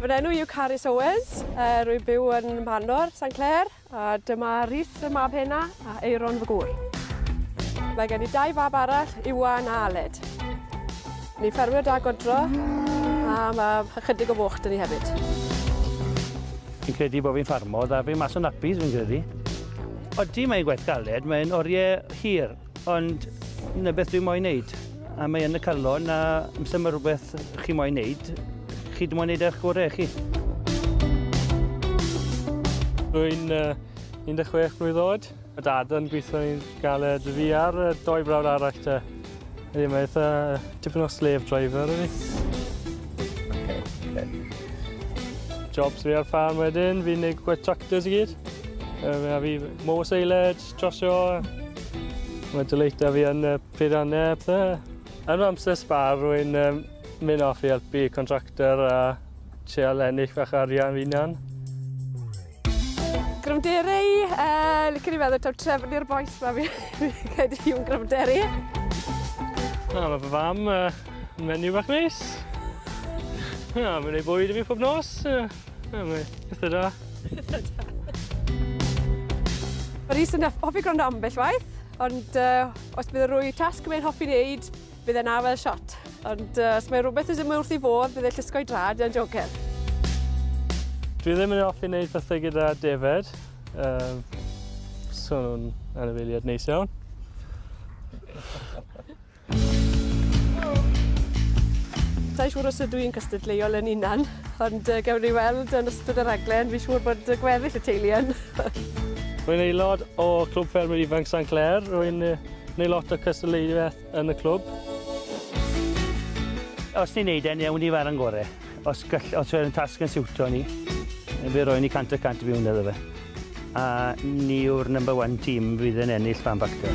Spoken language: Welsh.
Fy enw yw Carys Owens, uh, rwy'n byw yn Manor, San Clair, a dyma Rhys y mab hena a Eiron fy gŵr. Mae gen i dau fab arall, Iwan a Aled. Ni ffermio da godro, a mae ychydig o foch dyn ni hefyd. Fi'n credu bod fi'n ffarmo, da fi mas o'n nappies fi'n credu. Odi, mae'n gwaith galed, mae'n oriau hir. Ond 'na beth dwi moyn neud, a mae yn y calon a os dyma rwbeth chi moyn neud, chi dim ond neud eich gore chi. Rwy'n uh, 16 mlwydd oed. Y dad yn gweithio i'n galed fi ar y doi brawd arall te. Ydy, mae eitha tipyn o slave driver ydy. Okay, okay. Jobs fi ar ffarm wedyn, fi'n neud gwaith tractors i gyd. Mae fi mow seiled, Trosio a ma' dy leidr fi yn y peirianne a pethe. Yn fy amser sbâr rwy'n yym myn' off i elpu contractor a treial ennill fach o arian fy 'unan. Gryfnderi yy licen i feddwl taw Trefn yw'r bois 'ma fi fi credu yw'n gryfnderi. O ma' fy fam yy menyw bach neis. O ma'n neud bwyd i fi pob nos yy. Ie mwy. Pethe da. Pethe da. Mae Rhys yn hoffi gwrando ambell waith, ond uh, os bydd y rwy tasg mae'n hoffi wneud, bydd e'n awel shot. Ond uh, os mae rhywbeth ddim wrth i fodd, bydd e'n llusgo'i drad yn jogen. Dwi ddim yn hoffi wneud pethau gyda David. Um, so nhw'n anifeiliad neis iawn. Sa'n siŵr os ydw i'n cystadleuol yn unan, ond uh, gewn ni weld yn ystod y raglen, fi'n siŵr bod y gweddill y teulu yn. Rwy'n aelod o Clwb Ffermwyr Ifanc San Clair, rwy'n neud lot o cystadleuaeth yn y clwb. Os ni'n neud e'n iawn i fara yn gore, os, gall, os yw'r tasg yn siwtio ni, fe roen ni cant y cant i fiwn iddo fe. A ni yw'r number one team fydd yn ennill fan bacter.